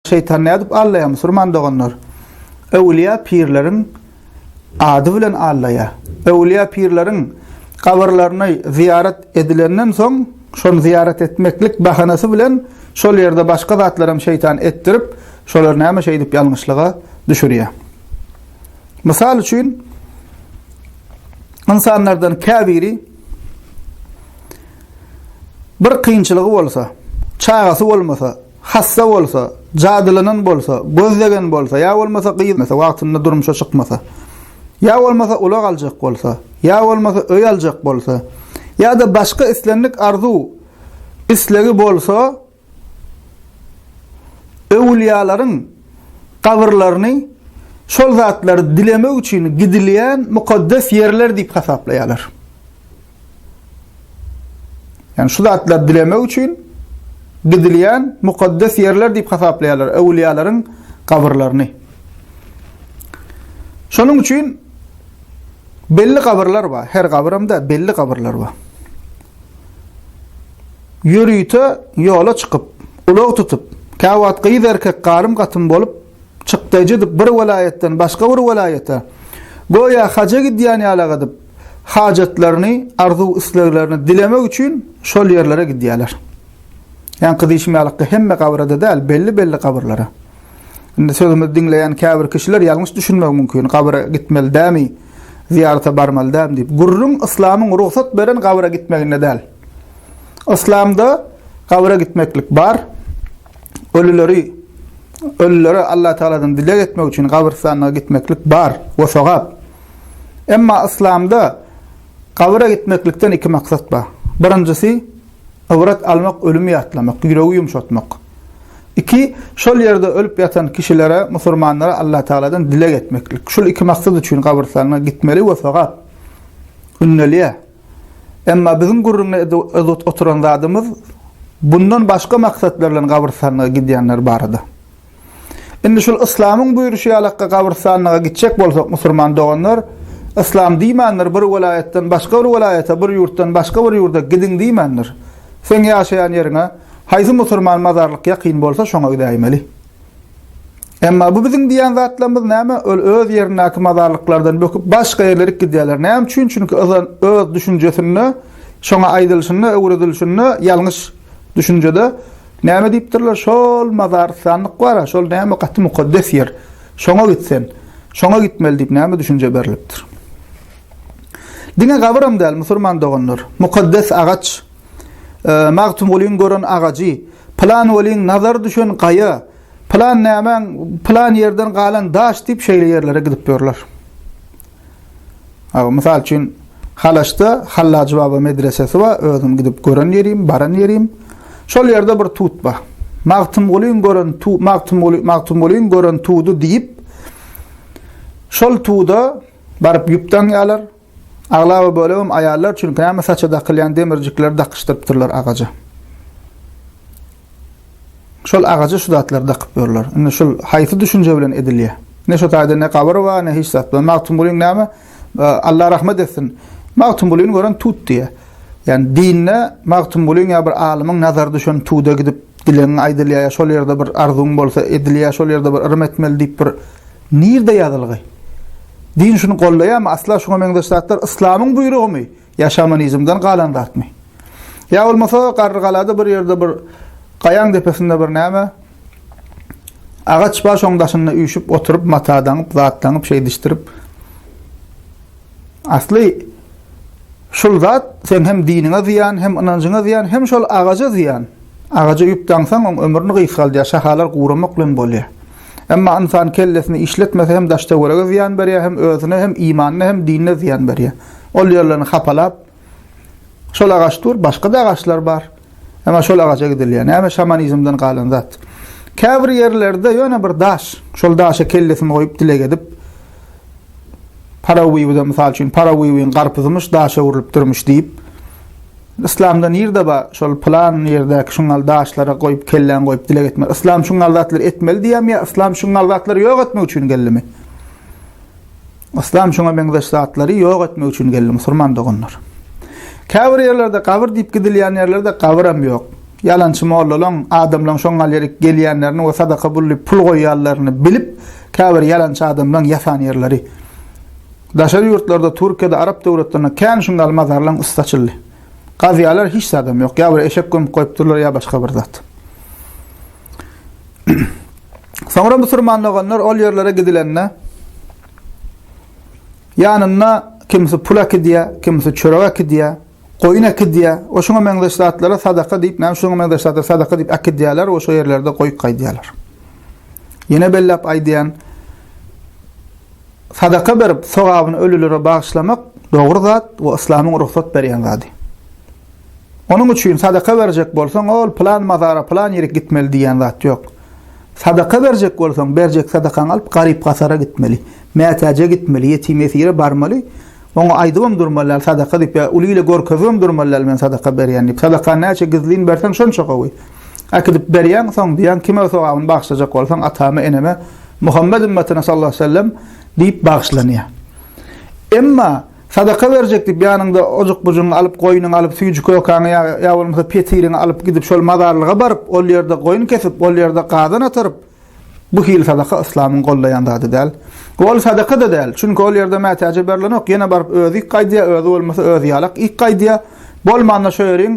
Şeýtan nädip allaýar musulman doganlar? Öwlüýä pirleriň ady bilen allaýar. Öwlüýä pirleriň gabrlaryny zyýarat edilenden soň, şony zyýarat etmeklik bahanasy bilen şol ýerde başga zatlar hem şeýtan etdirip, şolar näme şeýdip ýalňyşlyga düşürýär. Mysal üçin, ynsanlardan käbiri Bir kynçylygy bolsa, çagasy bolmasa, hassa bolsa, jadylanan bolsa, göz degen bolsa, ýa bolmasa gyz wagtynda durmuşa çykmasa, ýa bolmasa ulag aljak bolsa, ýa bolmasa öý aljak bolsa, ýa-da başga islendik arzuw, islegi bolsa, Öwülýalaryň gabyrlaryny şol zatlary dilemek üçin gidilýän mukaddes ýerler diýip hasaplaýarlar. Ýani şu zatlary dilemek üçin gidilýän mukaddes ýerler diýip hasaplaýarlar öwülýalaryň gabyrlaryny. Şonuň üçin belli gabyrlar bar. Her gabyrymda belli gabyrlar bar. Ýörite ýola çykyp, ulag tutup, käwagt gyz-erkek garym-gatym bolup, çykdaýjy edip bir welaýatdan başga bir welaýata, göýä haja gidýän ýalak edip, hajatlaryny, arzuw-isleglerini dilemek üçin şol ýerlere gidýärler. Ýaňky diýşim ýalykda hemme gabyra-da däl, belli-belli gabyrlara. Indi sözümizi diňleýän käbir kişiler ýalňyş düşünmegi mümkin, gabyra gitmeli dämi? zyýarata barmaly däl diýip, gürrüň yslamyň rugsat beren gabra gitmeginde däl. Yslamda gabra gitmeklik bar. Ölüleri ölülere Allah Taaladan dileg etmek üçin gabrystana gitmeklik bar we sogap. Emma yslamda gabra gitmeklikden iki maksat bar. Birinjisi Ybrat almak ölümi ýatlamak, ýüregi ýumşatmak. Iki, şol ýerde ölüp ýatan kişilere, musurmanlara Allatagaladan dileg etmeklik. Şul iki maksat üçin gabrystanyna gitmeli we sogap ündelýär. Emma biziň gürrüňini edip oturan zadymyz bundan başga maksatlar bilen gabrystanyna gidýänler barada. Indi şul Yslamyň buýruşy ýalakka gabrystanlyga gitjek bolsak musurman doganlar Yslam diýmändir bir welaýatdan başga bir welaýata bir ýurtdan başga bir ýurda gidiň diýmändir. Seň ýaşaýan ýeriňe haýsy musurman mazarlyk ýakyn bolsa şoňa gidäýmeli. Emma bu biziň diýen zatlarymyz näme ol öz ýerindäki mazarlyklardan böküp başga ýerlerik gidýärler näme üçin çünki yzan öz düşünjesinde şoňa aýdylşynda öwredilşinde ýalňyş düşünjede Näme diýipdirler, şol mazarystanlyk bar-a, şol näme gaty mukaddes ýer. Şoňa git sen. Şoňa gitmeli diýip näme düşünje berlipdir. Diňe gabyram däl, musurman doganlar. Mukaddes agaç. Magtymgulyň gören agajy, pylan weliň nazary düşen gaýa, pylan nämäň pylan ýerden galan daş diýip şeýle ýerlere gidip ýörler. Aw, mysal üçin, Halaçda Hallajy baba medresesi bar, özüm gidip gören ýerim, baran ýerim. Şol ýerde bir tut bar. Magtymgulyň gören tu, Magtymguly, Magtymgulyň gören tudy diýip, şol tuda baryp ýüp daňýarlar. Aglaba bölegim aýallar, çünki näme saça dakylýan demirjikleri dakyşdyrypdyrlar agaja. Şol agaja şu zatlary dakyp ýörler. Indi şul haýsy düşünje bilen edilýär? Ne şo taýda ne gabyr bar, ne hiç zat bar. Magtymgulyň näme? Allah rahmet etsin. Magtymgulyny gören tut diýýär. Ýani dinde Magtymgulyň ýa bir alymyň nazary düşen tuda gidip dilegiň aýdylýar ýa şol ýerde bir arzuwyň bolsa edilýär, şol ýerde bir yrym etmeli diýip bir nirde ýazylgy? Din şuny goldaýarmy? Asla şuňa meňzeş zatlar yslamyň buýrugymy? Ýa şamanizmden galan zatmy? Ýa bolmasa Garrygalada bir ýerde bir gaýaň depesinde bir näme agaç bar şoň daşynda üýşüp oturyp mata daňyp zat daňyp şeýdişdirip asly şul zat sen hem diniňe zyýan hem ynanjyňa zyýan hem şol agaja zyýan agaja üýüp daňsaň oň ömrüni gysgaldýar şahalar guramak bilen bolýar Emma ynsan kellesini işletmese hem daş-töwerege zyýan berýär, hem özüne, hem imanyna, hem dinine zyýan berýär. Ol ýerlerini hapalap, şol agaç dur, başga-da agaçlar bar. Emma şol agaça gidilýär. Näme şamanizmden galan zat. Käbir ýerlerde ýöne bir daş, şol daşa kellesini goýup dileg edip, Parawiwde mysal üçin parawiwiň garpyzymyş daşa öwrülipdirmiş diýip Yslamda nirde bar şol pylan ýerdäki şuňňal daşlara goýup kelläňi goýup dileg etmek. Yslam şuňňal zatlary etmeli diýýämi ýa yslam şuňňal zatlary ýok etmek üçin geldimi? Yslam şuňa meňzeş zatlary ýok etmek üçin geldi musulman doganlar. Käbir ýerlerde gabyr diýip gidilýän ýerlerde gabyram ýok. Ýalançy mollalaň, adamlaň şoňňal ýerik gelýänlerini we sadaka bullyp pul goýýanlaryny bilip Käbir ýalançy adamlaň ýasan ýerleri. Daşary ýurtlarda Türkiýede arap döwletlerinde kän şun gal mazarlaň üsti açyldy. Gazýalar hiç zadam ýok ýa bir eşek gömüp goýupdyrlar ýa başga bir zat. Soňra musurman doganlar ol ýerlere gidilende ýanynda kimsi pul akidýä, kimsi çörek akidýä. Goýun äkidýär we şuňa meňzeş zatlara sadaka diýip, näme şuňa meňzeş zatlara sadaka diýip äkidýärler we şo ýerlerde goýup gaýdýarlar. Ýene belläp aýdýan, sadaka berip, sogabyny ölülere bagyşlamak dogry zat we yslamyň rugsat berýän zady. Onuň üçin sadaka berjek bolsaň, ol plan mazara, plan ýere gitmeli diýen zat ýok. Sadaka berjek bolsaň, berjek sadakaňy alyp, garyp-gasara gitmeli, mätäje gitmeli, ýetim-ýesire barmaly, Oňa aýdybam durmalyal sadaka diýip ýa uly ile görkezibem durmalyal men sadaka berýän diýip. Sadaka näçe gizlin berseň şonça gowy. Äkidip berýäň soň diýýäň kime sogabyny bagyşlajak bolsaň atama eneme Muhammet ümmetine sallallahu aleyhi ve sellem diýip bagyşlanýar. Emma sadaka berjek diýip ýanyňda ojuk bujugyňy alyp goýnuňy alyp süýji kökäňi ýa ýa bolmasa petiriňi alyp gidip şol mazarlyga baryp ol ýerde goýun kesip ol ýerde gazan ataryp Bu hili sadaka yslamyň goldaýan zady däl. Ol sadaka-da däl, çünki ol ýerde mätäje berlenok, ýene baryp özi yk gaýdýar, özi bolmasa özi ýalak yk gaýdýar. Bolmanda şo ýeriň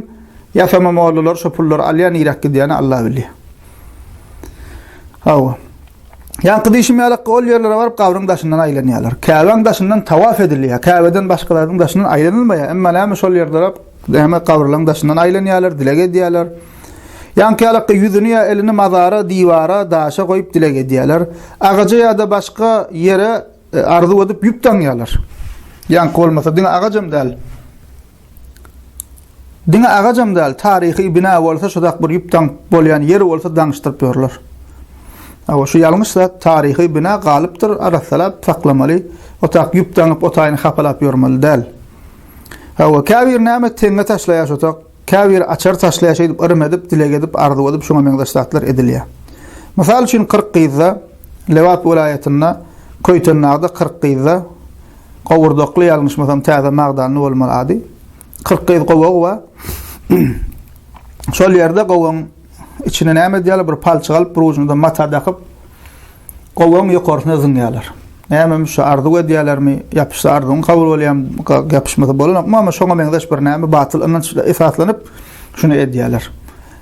ýasama mollalar şo pullary alýar, niräk gidýäni Alla bilýär. Hawa. Ýaňky diýşim ýalak, ol ýerlere baryp gabryň daşyndan aýlanýarlar. Käbäň daşyndan tawaf edilýär, Käbeden başgalaryň daşyndan aýlanylmaýar, emma näme şol ýerde näme gabrlaryň daşyndan aýlanýarlar, dileg edýärler. Ýaňkyýalakda ýüzüni ýa elini mazara, diwara, daşa goýup dileg edýärler. Agaja ýa-da başga ýere arzuw edip ýüp daňýarlar. Ýaňky bolmasa diňe agajam däl. Diňe agajam däl, taryhy bina bolsa şudak bir ýüp daňyp bolýan ýeri bolsa daňyşdyryp ýörler. Awa şu ýalňyş zat, taryhy bina galypdyr, arassalap saklamaly. Otap ýüp daňyp, otaýyny hapalap ýörmeli däl. Hawa, käbir näme teňňe taşlaýar şutak. Käbiri açar taşlaýar şeýdip yrym edip, dileg edip, arzuw edip şuňa meňzeş zatlar edilýär. Mysal üçin kyrk gyzda, Lebap welaýatynda, Köýtendagda kyrk gyzda, Gowurdakly ýalňyşmasam täze magdanly bolmaly ady. Kyrk gyz gowagy bar. Şol ýerde gowagyň Içine näme edýärler? Bir palçyk alyp, bir ujuna-da mata dakyp, gowagyň ýokarsyna zyňýarlar. Nämemi şu arzuw edýärlermi? Ýapyşsa arzuwyň kabul bolýarmy? Ýapyşmasa bolanokmy? Amma şoňa meňzeş bir näme batyl ynanç esaslanyp, şuny edýärler.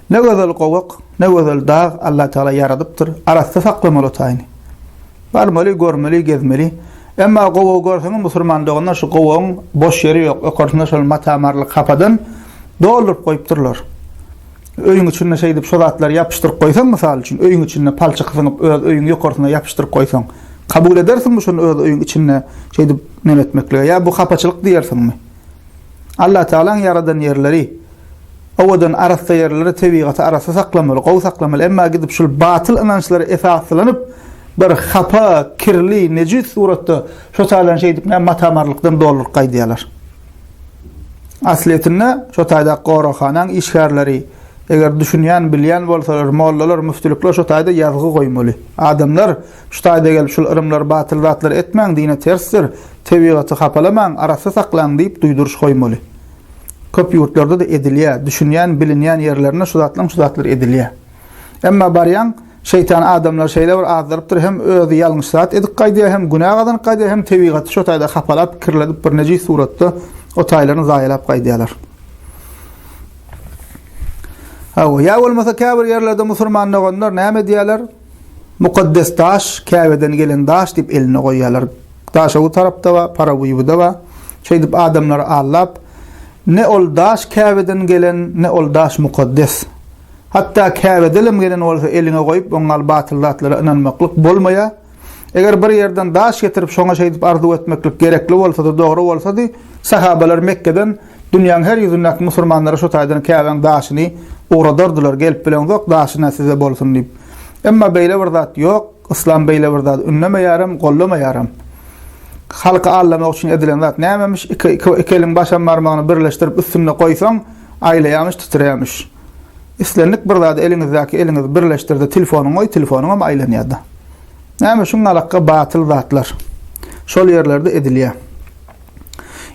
Ne gözel gowak, ne gözel dag Allatagala ýaradypdyr, arassa saklamaly otaýyny. Barmaly, görmeli, gezmeli. Emma gowagy görseňiz, musulman doganlar, şu gowagyň boş ýeri ýok. Ýokarsyna şol mata-marly kapadan dolduryp goýupdyrlar. Öýüň içinde şeýdip şo zatlary ýapyşdyryp goýsaň, mysal üçin, öýüň içinde palçyk syňyp, öz öýüň ýokarsyna ýapyşdyryp goýsaň, kabul edersiňmi şony öz öýüň içinde şeýdip neme etmeklige? Ýa bu hapaçylyk diýersiňmi? Allatagalaň ýaradan ýerleri, owadan arassa ýerleri, tebigaty arassa saklamaly, gowy saklamaly, emma gidip şul batyl ynançlara esaslanyp, bir hapa, kirli, nejis suratda şo taýdan şeýdip näme mata-marlykdan dolduryp gaýdýarlar. Aslyýetinde, şo taýdaky goraghanaň işgärleri, eger düşünýän, bilýän bolsalar, mollalar, müftülikler şo taýda ýazgy goýmaly. Adamlar, şu taýda gelip, şul yrymlary, batyl zatlary etmäň, dine tersdir, tebigaty hapalamaň, arassa saklaň diýip duýduryş goýmaly. Köp ýurtlarda-da edilýär. Düşünýän, bilinýän ýerlerinde şu zatlaň şu zatlary edilýär. Emma barýaň, Şeýtan adamlary şeýle bir azdyrypdyr, hem özi ýalňyş zat edip gaýdýar, hem günä gazanyp gaýdýar, hem tebigaty şo taýda hapalap, kirledip, bir nejis suratda o taýlaryny zaýalap gaýdýarlar. Hawa, ýa bolmasa käbir ýerlerde musulman doganlar näme diýýärler? Mukaddes daş, Käbeden gelen daş diýip eline goýýarlar. Daş o tarapda we Paraguýuda we şeýdip adamlary aldap, ne ol daş Käbeden gelen, ne ol daş mukaddes. Hatda Käbedelem gelen bolsa eliňe goýup oň al batyl zatlara ynanmaklyk bolmaýa. Eger bir ýerden daş getirip şoňa şeýdip arzuw etmeklik gerekli bolsady dogry bolsady Sahabalar Mekgeden dünýäň her ýüzündäki musurmanlara şu taýdan Käbäň daşyny ugradardylar gelip bileňzok daşyna size bolsun diýip. Emma beýle bir zat ýok Yslam beýle bir zady ündemeýärem gollamaýaram. Halky aldamak üçin edilen zat nämemiş iki iki iki eliň başam barmagyny birleşdirip üstünde goýsaň aýlaýamyş titreýämiş. Islendik bir zady eliňizdäki eliňizi birleşdirdi telefonyň goý telefonyňam aýlanýarda. Näme şuň alakga batyl zatlar. Şol ýerlerde edilýär.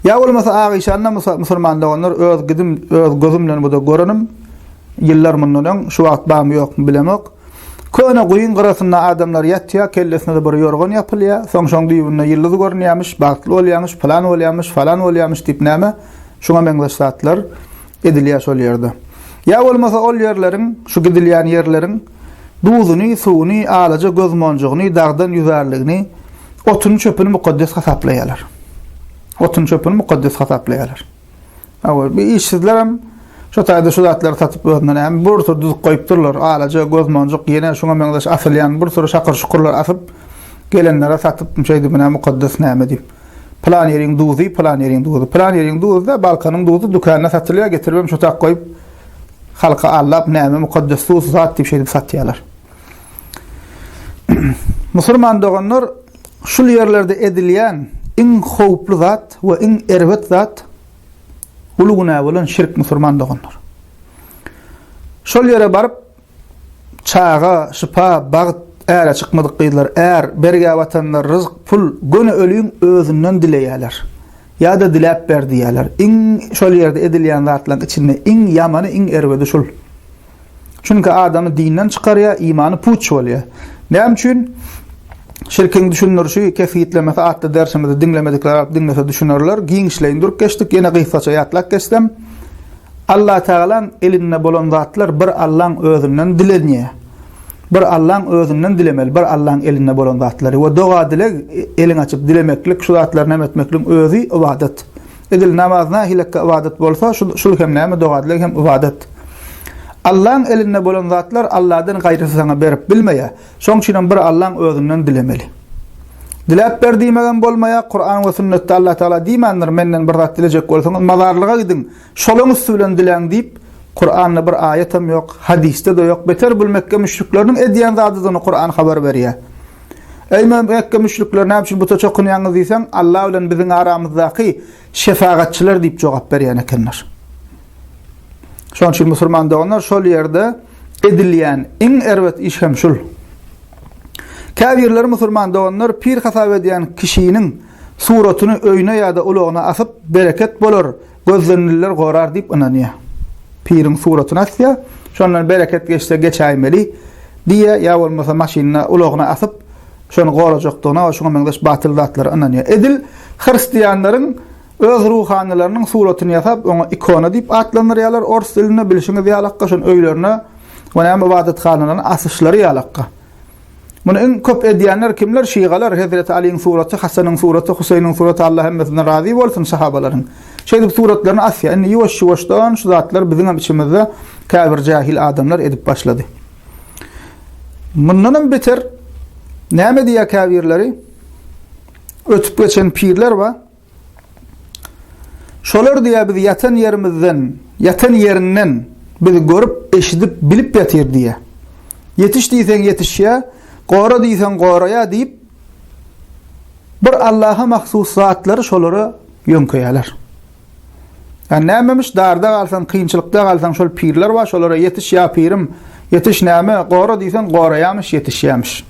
Ýa bolmasa agyşanda musulman doganlar öz gidim öz gözüm bilen bu da görenim. Ýyllar mundan öň şu wagt bamy ýokmy bilemok. Köne guýyň gyrasynda adamlar ýatýar, kellesine bir ýorgan ýapylýar. Soň şoň düýbünde ýyldyz görünýärmiş, bagtly bolýarmyş, plan bolýarmyş, falan bolýarmyş diýip näme şuňa meňzeş zatlar. Edilýär şol ýerde. Ýa bolmasa ol ýerleriň, şu gidilýän ýerleriň duzuny, suwuny, alaja göz monjugyny, dagdan ýüzärligini, otuny-çöpüni mukaddes hasaplaýarlar. Otuny-çöpüni mukaddes hasaplaýarlar. Awul, bi işsizlerem şo taýda şu zatlary satyp özüne näme, bir sürü düzüp goýup durlar, alaja göz monjuk, ýene şuňa meňzeş asylýan bir sürü şakyr-şukurlar asyp, gelenlere satyp, şeýdibine mukaddes näme diýip. Pylan ýeriň duzy, pylan ýeriň duzy. Pylan ýeriň duzy-da, Balkanyň duzy dükanda satylýar, getiribem çutak goýup, halky aldap, näme mukaddes duz zat diýip şeýdip satýarlar. Musulman doganlar, şul ýerlerde edilýän iň howply zat we iň erbet zat uly günä bolan şirk musulman doganlar. Şol ýere baryp, Çaga, şypa, bagt, äre çykmadyk gyzlar, är, bergä batanlar, ryzk, pul, göni öliň özünden dileýärler. Ýa-da diläp ber diýýärler. Iň şol ýerde edilýän zatlaryň içinde iň ýamany, iň erbedi şul. Çünki adamy dinden çykarýar, imany puç bolýar. Näme üçin? Şirkiň düşündirişi, kesgitlemesi atly dersimizi diňlemedikler alyp diňlese düşünerler. Giňişleýin durup geçdik. Ýene gysgaça ýatlap geçsem. Allatagalaň elinde bolan zatlar bir Allaň özünden dilenýär. Bir Allaň özünden dilemeli, bir Allaň elinde bolan zatlary we doga-dileg, elin açyp dilemeklik, şu zatlary näme etmekligiň özi ybadat. Edil namaz nähilekge ybadat bolsa, şul hem näme doga-dileg hem ybadat. Allaň elinde bolan zatlar Alladan gaýrysy saňa berip bilmeýär. Şoň üçin hem bir Allaň özünden dilemeli. Diläp ber diýmegem bolmaýar, Kuran we sünnetde Allah Taala diýmändir, menden bir zat dilejek bolsaňyz mazarlyga gidiň, şolaň üsti bilen diläň diýip, Kuranda bir aýat hem ýok, hadysda-da ýok, beter bul Mekge müşrikleriniň edýän zadydygyny Kuran habar berýär. Eý Mekge müşrikleri näme üçin buta çokunýaňyz diýseň, Allah bilen biziň aramyzdaky şefagatçylar diýip jogap berýän ekenler. Şonuň üçin musulman doganlar şol ýerde edilýän iň erbet iş hem şul. Käbirleri musulman doganlar pir hasap edýän kişiniň suratyny öýüne ýa-da ulagyna asyp, bereket bolar, gözlenililer gorar diýip ynanýar. Piriň suratyny asýar, şondan bereket geçse geçäýmeli diýýär ýa bolmasa maşynyna, ulagyna asyp, şony gorajakdygyna we şuňa meňzeş batyl zatlara ynanýar. Edil hristianlaryň Öz ruhanylarynyň suratyny ýasap, oňa ikona diýip atlandyrýarlar ors dilinde, bilşiňiz ýalakka, şonuň öýlerine we näme ybadathanalarna asyşlary ýalakka. Muny iň köp edýänler kimler? Şygalar, Hezreti Aliň suraty, Hasanyň suraty, Huseýniň suraty, Allah hemmesinden razy bolsun sahabalaryň. Şeýdip suratlaryny asýar. Indi ýuwaş-ýuwaşdan şu zatlar biziňem içimizde käbir jähil adamlar edip başlady. Mundanam beter näme diýýär käbirleri? Ötüp geçen pirler bar. Şolar diýýär biz ýatan ýerimizden, ýatan ýerinden biz görüp, eşidip, bilip ýatyr diýýär. Ýetiş diýseň ýetişýär, gora diýseň goraýar diýip, bir Allaha mahsus zatlary şolara ýöňkeýärler. Ýa nämemiş, darda galsaň, kynçylykda galsaň, şol pirler bar, şolara ýetiş ýa pirim, ýetiş näme, gora diýseň goraýarmyş, ýetişýärmiş.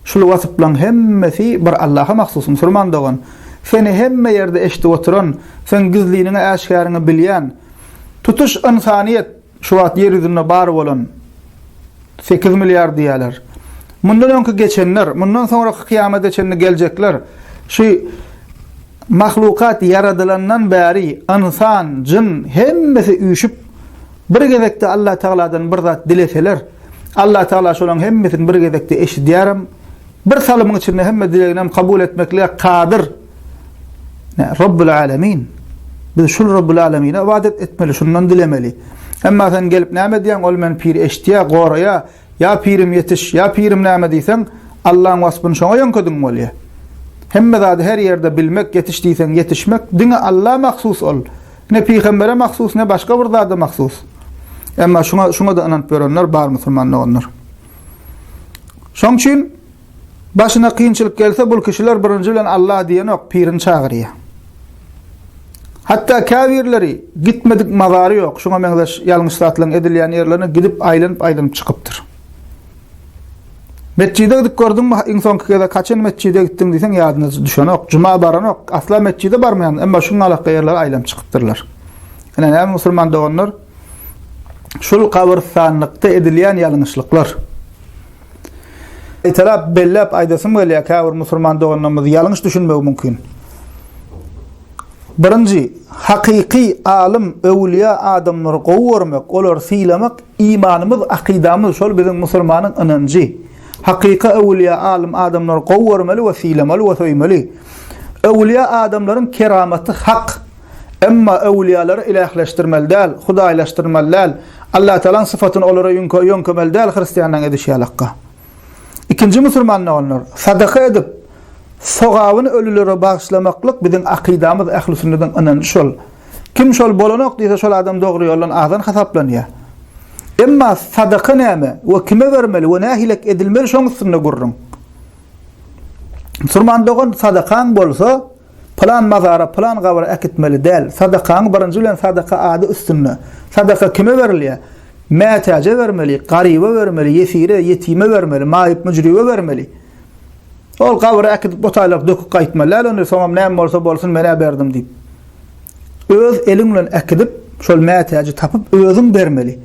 Şul wasyplaň hemmesi bir Allaha mahsus, musulman dogan! Seni hemme ýerde eşdip oturan, seň gizliniňi äşgäriňi bilýän, tutuş ynsanyýet, şu wagt ýer ýüzünde bar bolan sekiz milliard diýýärler. Mundan öňki geçenler, mundan soňraky kyýamada çenli geljekler, şu mahlukat ýaradylandan bäri ynsan, jyn hemmesi üýşüp Bir gezekde Allatagaladan bir zat dileseler, Allatagala şolaryň hemmesini bir gezekde eşidýärem, bir salymyň içinde hemme dileginem kabul etmeklige kadyr. Rabbul Alemin. Biz şul Rabbul Alemine ybadat etmeli, şundan dilemeli. Emma sen gelip näme edýäň? Ol meni pir eşitýär, goraýar. Ýa pirim ýetiş, ýa pirim näme diýseň, Allaň waspyny şoňa ýöňkediň bolýa. Hemme zady her ýerde bilmek, ýetiş diýseň ýetişmek, diňe Alla mahsus ol. Ne pygambere mahsus, ne başga bir zada mahsus. Emma şuňa şuňa-da ynanyp ýörenler bar musulman doganlar. Şoň üçin Başyna kynçylyk gelse, bul kişiler birinji bilen Allah diýenok, pirini çagyrýar. Hatda käbirleri gitmedik mazary ýok, şuňa meňzeş ýalňyş zatlaryň edilýän ýerlerine gidip aýlanyp-aýlanyp çykypdyr. Metjide gidip gördüňmi, iň soňky gezek haçan metjide gitdiň diýseň, ýadyna düşenok, juma baranok, asla metjide barmaýan, emma şuň alaka ýerlere aýlanyp çykypdyrlar. Ine, näme musulman doganlar, şul gabyrstanlykda edilýän ýalňyşlyklar. Gaýtalap belläp aýdasym gelýär, käbir musulman doganlarymyz ýalňyş düşünmegi mümkin. Birinji, hakyky alym, öwülýä adamlary gowy görmek, olary sylamak imanymyz, akydamyz, şol biziň musulmanyň ynanjy. Hakyky öwülýä alym adamlary gowy görmeli we sylamaly we söýmeli. Öwülýä adamlaryň keramaty hak. Emma öwlüýälary ilähleşdirmeli däl, hudaýlaşdyrmaly däl, Allatagalaň sypatyny olara ýüňke, ýöňkemeli däl hristianlaň edişi ýaly hakga. Ikinji musurman doganlar, sadaka edip, sogabyny ölülere bagyşlamaklyk biziň akydamyz, ähli sünnetiň ynanjy şol. Kim şol bolanok diýse şol adam dogry ýoldan azan hasaplanýar. Emma sadaka näme we kime bermeli we nähilek edilmeli şoň üstünde gürrüň. Musurman dogan sadakaň bolsa, Pylan mazara, pylan gabra äkitmeli däl. Sadakaň birinji bilen sadaka ady üstünde. Sadaka kime berilýär? Mätäje bermeli, garyba bermeli, ýesire, ýetime bermeli, maýyp-müjribe bermeli. Ol gabra äkidip botaýlaryp döküp gaýtmaly däl ony, soňam näme bolsa bolsun men-ä berdim diýip. Öz eliň bilen äkidip, şol mätäji tapyp özüň bermeli.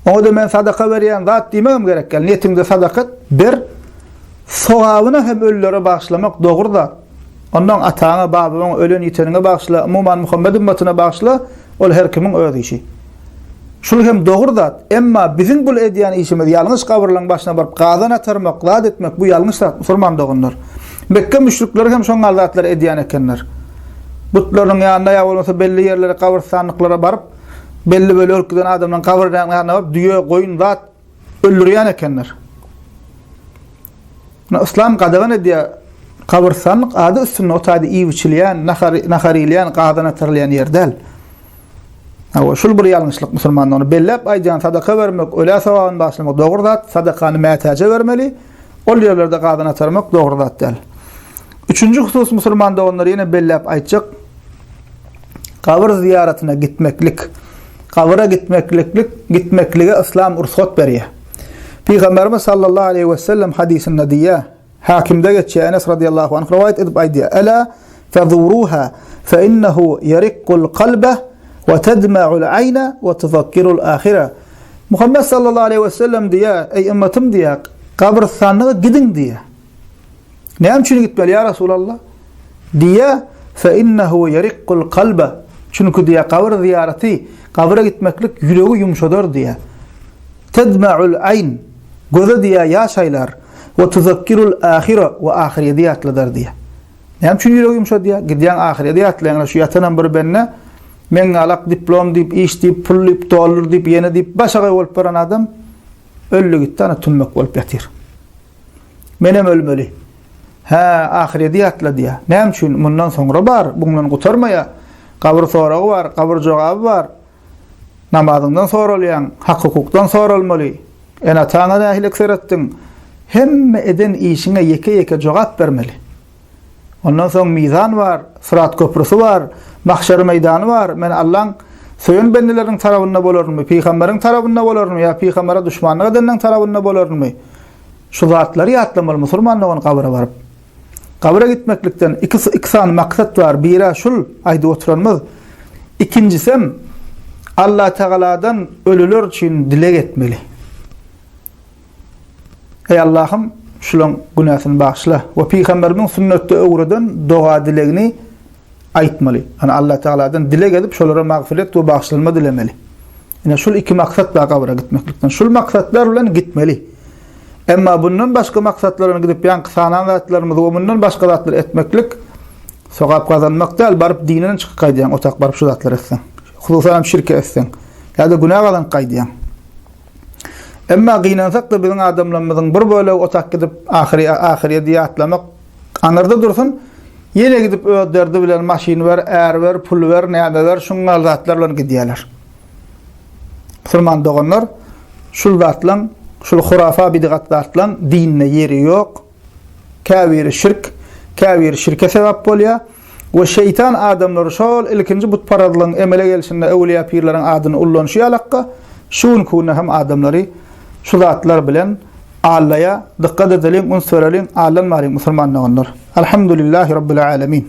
Oňa-da men sadaka berýän zat diýmegem gerek däl. Niýetiňde sadaka et, ber. Sogabyna hem ölülere bagyşlamak dogry zat. Onnoň ataňa, babaňa, ölen-ýiteniňe bagyşla, umuman Muhammet ümmatyna bagyşla, ol her kimiň öz işi. Şul hem dogry zat, emma biziň bul edýän işimiz ýalňyş gabyrlaň başyna baryp gazan atarmak, zat etmek bu ýalňyş zat musulman doganlar. Mekge müşrikleri hem şoňňal zatlary edýän ekenler. Butlarynyň ýanyna ýa bolmasa belli ýerlere gabyrstanlyklara baryp, belli böli ölüp giden adamlaryň gabyrlarynyň ýanyna baryp düýe, goýun, zat, Öldürýän ekenler. Muny yslam gadagan edýär. Gabyrstanlyk ady üstünde o taýda iýip-içilýän, nahar, nahar iýilýän, gazan atarylýan ýer däl. Hawa, şul bir ýalňyşlyk musulmanda. Ony belläp aýdýan, sadaka bermek, ölä sogabyny bagyşlamak dogry zat, sadakany mätäje bermeli. Ol ýerlerde gazyny atarmak dogry zat däl. Üçünji husus musulman doganlar ýene belläp aýtjak, gabyr zyýaratyna gitmeklik, gabyra gitmekliklik, gitmeklige yslam rugsat berýär. Pygamberimiz sallallahu aleýhi we sellem hadysynda diýýär, Hakimde geçýär, Enes radiallahu anh rowaýat edip aýdýar, Elâ fezuruha fe innehu ýerikkul kalbe we tedme'ul aýne we tuzakkirul ahire. Muhammet sallallahu aleýhi we sellem diýýär, Eý ymmatym diýýär, gabrystanlyga gidiň diýýär. Näme üçin gitmeli ýa Resulallah? Diýýär, Fe innehu ýeriqqul kalbe. Çünki diýýär, gabyr zyýaraty, gabyra gitmeklik ýüregi ýumşadar diýýär. Tedma'ul aýn. Göze diýýär ýaş aýlar. We tuzakkirul ahire we ahyrýeti ýatladar diýýär. Näme üçin ýüregi ýumşadýar? Gidýäň ahyrýa ýatlaýaňda şu ýatanam bir bende, meňňalak diplom diýip, iş diýip, pul diýip, dollar diýip, ýene diýip başagaý bolup baran adam öldi gitdi ana tümmek bolup ýatyr. Menem ölmeli. Hä, ahyrýa ýatla diýä. Näme üçin? Mundan soňra bar, bundan gutarmaýa. Gabyr soragy bar, gabyr jogaby bar. Namazyňdan soralýaň, hak-hukukdan soralmaly. Ene-ataňa nähililik seretdiň? Hemme eden işiňe ýeke-ýeke jogap bermeli. Ondan soň mizan bar, syrat köprüsi bar, mahşer meýdany bar. Men Allaň söýen bendeleriniň tarabynda bolarynmy, pygamberiň tarabynda bolarynmy ýa pygambere duşmanlyk edeniň tarabynda bolarynmy? Şu zatlary ýatlamaly musulman dogan gabra baryp. Gabra gitmeklikden iki iki sany maksat bar, biri-ä şul aýdyp oturanymyz, ikinjisem Allatagaladan ölüler üçin dileg etmeli. Eý Allahym, şulaň günäsini bagyşla we pygamberimiň sünnetde öwreden doga-dilegini aýtmaly. Ýani Allatagaladan dileg edip, şolara magfyret we bagyşlanma dilemeli. Ine şul iki maksat bar gabra gitmeklikden. Şul maksatlar bilen gitmeli. Emma bundan başga maksatlaryna gidip ýaňky sanan zatlarymyzy we mundan başga zatlary etmeklik sogap gazanmak däl, baryp dinden çykyp gaýdýaň, otak baryp şu zatlary etseň. Hususanam şirki etseň. Ýa-da günä gazanyp gaýdýaň. Emma gynansak-da biziň adamlarymyzyň bir bölegi otak gidip ahyry ahyryýedi ýatlamak aňyrda dursun, ýene gidip öz derdi bilen maşyn ber, är ber, pul ber, näme ber, şuňňal zatlar bilen gidýärler. Musulman doganlar, şul zatlaň, şul hurafa bidgat zatlaň dinde ýeri ýok. Käbiri şirk, käbiri şirke sebäp bolýar we şeýtan adamlary şol ilkinji butparazlygyň emele gelşinde öwlüýä pirleriň adyny ullanyşy ýalakka, şu günki günde hem adamlary şu zatlar bilen allaýar. Dykgat edeliň, üns bereliň, allanmalyň musulman doganlar. Alhamdulillahi Rabbil Alemin.